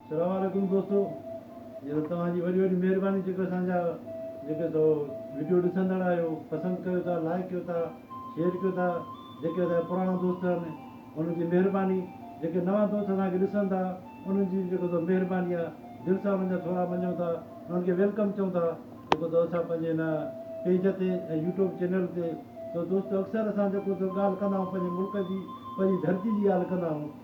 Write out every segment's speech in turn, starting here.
سلام عليڪم دوستو جيڪو توهان جي وڏي وڏي مهرباني جيڪو اسان جا جيڪي سو وڊيو ڏسندڙ آهيو پسند ڪيو ٿا لائڪ ڪيو ٿا شيئر ڪيو ٿا جيڪي اسان جا پراڻا دوست آهن انهن جي مهرباني جيڪي نوان دوست اسان کي ڏسن ٿا انهن جي به جيڪو سو مهرباني آهي دل سان انهن جا ٿورا مڃون ٿا انهن کي ويلڪم چئون ٿا جيڪو سو اسان پنهنجي هن پيج تي ۽ يوٽيوب چينل تي سو دوستو اڪثر اسان جيڪو سو ڳالهه ڪندا آهيون پنهنجي ملڪ جي پنهنجي ڌرتي جي ڳالهه ڪندا آهيون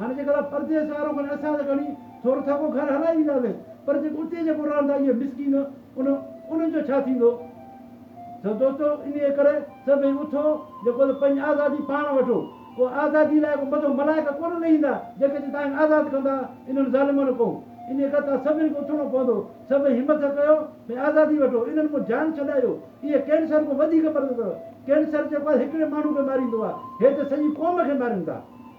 هاڻي جيڪڏهن پردي جو سهارو کڻي اسان ته کڻي ٿورو ٿڪو گهر هلائي وينداسين پر جيڪو اتي جيڪو رهن ٿا اهي مسڪين ان انهن جو ڇا ٿيندو؟ سو دوستو انهيء ڪري سڀئي اٿو جيڪو ته پنهنجي آزادي پاڻ وٺو ڪو آزادي لاء ڪو مٿو ملائڪ ڪونه نه ايندا جيڪي چي تانکي آزاد ڪندا انهن ظالمن ڪون انهيء ڪري توهان سڀني کي اٿڻو پوندو سڀئي همٿ ڪيو ۽ آزادي وٺو انهن مون جان ڇڏايو اهي ڪينسر کان وڌيڪ مرض اٿو ڪينسر جيڪو آهي هڪڙي ماڻهو کي ماريندو آهي هي ته سڄي قوم کي مارين ٿا.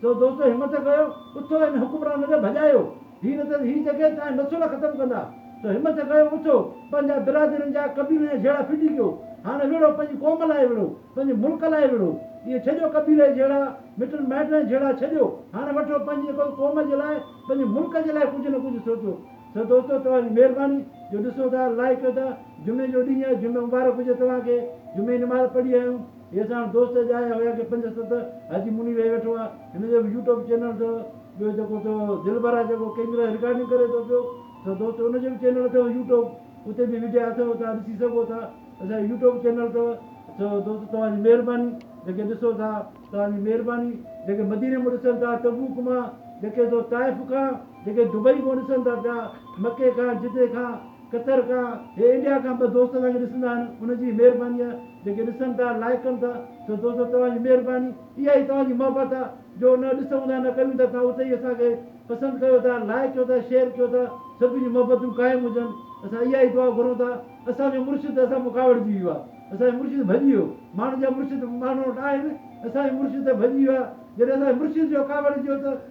چئو دوستو همت ڪيو اٿو هن حڪمران کي ڀڄايو هي نه ته هي جڳهه تنهنجا نسل ختم ڪندا چئو همت ڪيو اٿو پنهنجا برادرين جا قبيلن جا جهيڙا ڦٽي ڪيو هاڻ وڙهو پنهنجي قوم لاء وڙهو پنهنجي ملڪ لاء وڙهو اهي ڇڏيو قبيلي جا جهيڙا مٽن مائٽن جا جهيڙا ڇڏيو هاڻ وٺو پنهنجي قوم جي لاء پنهنجي ملڪ جي لاء ڪجهه نه ڪجهه سوچو چئو دوستو توهان جي مهرباني جو ڏسو ٿا لائڪ ڪيو ٿا جمعي جو ڏينهن آهي جمعو مبارڪ هجي توهان کي جمعي جي نماز پڙهي آيون. هي ساڻ دوست اڄ آيا هيا ڪي پنج ست حاجي منير هي ويٺو آ هن جو به يوٽوب چينل اٿو ٻيو جيڪو ٿيو دلبر آ جيڪو ڪيمرا رڪارڊنگ ڪري ٿو پيو سو دوست ان جو به چينل اٿو يوٽوب اتي به وڊيا اٿو تان ڏسي سگهو ٿا اسان جو يوٽوب چينل اٿو سو دوست توهان جي مهرباني جيڪي ڏسو ٿا توهان جي مهرباني جيڪي مديني مون ڏسن ٿا تبوڪ مان جيڪي سو طائف کان جيڪي دبئي مون ڏسن ٿا پيا مڪي کان جدي کان قطر کان هي انڊيا کان ٻه دوست اسان کي ڏسندا آهن ان جي مهرباني آ جيڪي ڏسن ٿا لائيڪ ڪن ٿا سو دوستو توهان جي مهرباني اها ئي توهان جي محبت آ جو نه ڏسون ٿا نه ڪيون ٿا توهان اتي ئي اسان کي پسند ڪيو ٿا لائيڪ ڪيو ٿا شيئر ڪيو ٿا سڀ جون محبتون قائم هجن اسان اها ئي دعا گهرون ٿا اسان جو مرشد اسان مان ڪاوڙجي ويو آ اسان جو مرشد ڀڄي ويو ماڻهن جا مرشد ماڻهن وٽ آهن اسان جو مرشد ته ڀڄي ويو آ جڏهن اسان جي مرشد جو ڪاوڙجي ويو ته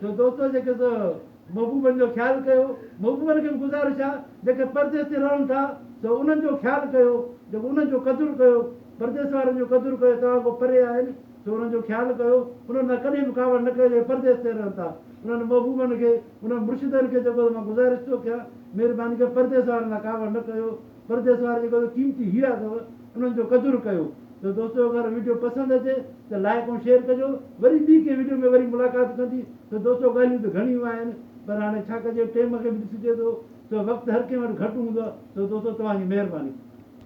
جو دوستو جيڪي سو محبوبن جو خيال ڪيو، محبوبن کي به گذارش آ جيڪي پرديس تي رهن ٿا سو انهن جو خيال ڪيو جيڪو انهن جو قدر ڪيو پرديس وارن جو قدر ڪيو توهان کان پري آهن سو انهن جو خيال ڪيو انهن سان ڪڏهن به ڪاوڙ نه ڪيو جيڪي پرديس تي رهن ٿا انهن محبوبن کي انهن مرشدن کي جيڪو سو مان گذارش ٿو ڪيان مهرباني ڪري پرديس وارن سان ڪاوڙ نه ڪيو. پرديس وارا جيڪا تو قيمتي هيرا اٿو انهن جو قدر ڪيو ته دوستو اگر ويڊيو پسند اچي ته لائيڪ ۽ شيئر ڪجو وري ٻي ڪنهن ويڊيو ۾ وري ملاقات ڪندي ته دوستو ڳالهيون ته گهڻيون آهن پر هاڻي ڇا ڪجي ٽيم کي به ڏسجي ٿو ته وقت هر ڪنهن وٽ گهٽ هوندو آهي ته دوستو توهان جي مهرباني.